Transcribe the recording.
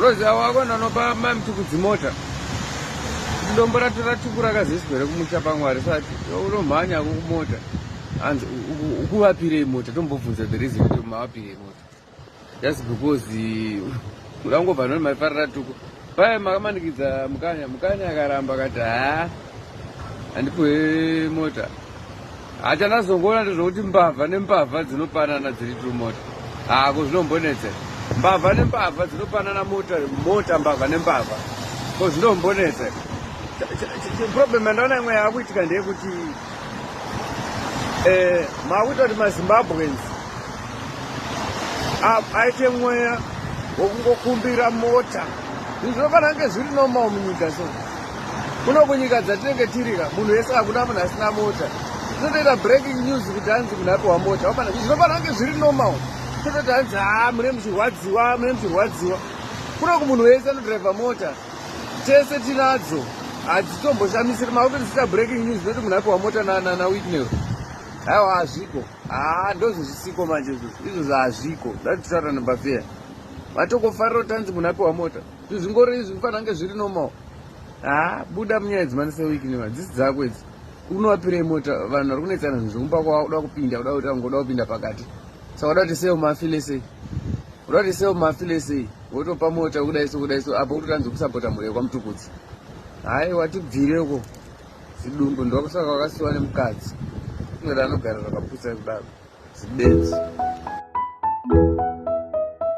Roziva wako ndanopa mai mutukudzi mota dombo rato ratukura kazisiko here kumusha pamwari sati unomhanya ko kumota hanzi ukuvapirei mota tombobvunza the reason kuti mavapirei mota just because kuda ngobva noni maifarira tuko paye makamanikidza mukanya mukanya akaramba akati haa handipuhe mota Hachandazongoona ndezvokuti mbavha nembavha dzinopanana dziri two mota. Ah, ko zvinombonetsa. Mbavha nembavha dzinopanana mota, mota mbavha nembavha. Ko zvinombonetsa. Problem yandaona imwe yakuitika ndeyekuti eh makuita kuti maZimbabweans ah, aite mweya wokungokumbira mota. Zvinhu zvinofanira kunge zviri normal munyika so. kuno kunyika dzatinenge tirika munhu wese hakuna munhu asina mota tinotoita breaking news kuti hanzi munhu apiwa mota wapana zvinofana kunge zviri normal tototi hanzi ha mune muchirwadziwa mune muchirwadziwa kuno kumunhu wese anodriver mota tese tinadzo hadzitombosamisiri makuti dziita breaking news noti munhu apiwa mota nanawitnero aiwa hazviko haa ndozvezvisiko manje izvozvo izvozvo hazviko zvatitaura nabafeya vatokofarira kuti tanzi munhu apiwa mota Zvinhu zvingori izvi kufanira kunge zviri normal. Ha, buda munyaya idzi mani sewiki nema dzisi dzako idzi. Unovapirei mota vanhu vari kunetsana zvinhu zvekumba kwavo uda kupinda uda kuti angoda kupinda pakati. Saka uda kuti sewo mafile sei? Uda kuti sewo mafile sei? Wotopa mota kudai so kudai so apo kutotanzi kusapota mhuri yekwamutukudzi. Hayi watibvire uko. Zidumbu ndokusaka wakasiwa nemukadzi. Unodano gara rakaputsa kudaro. Zibenzi.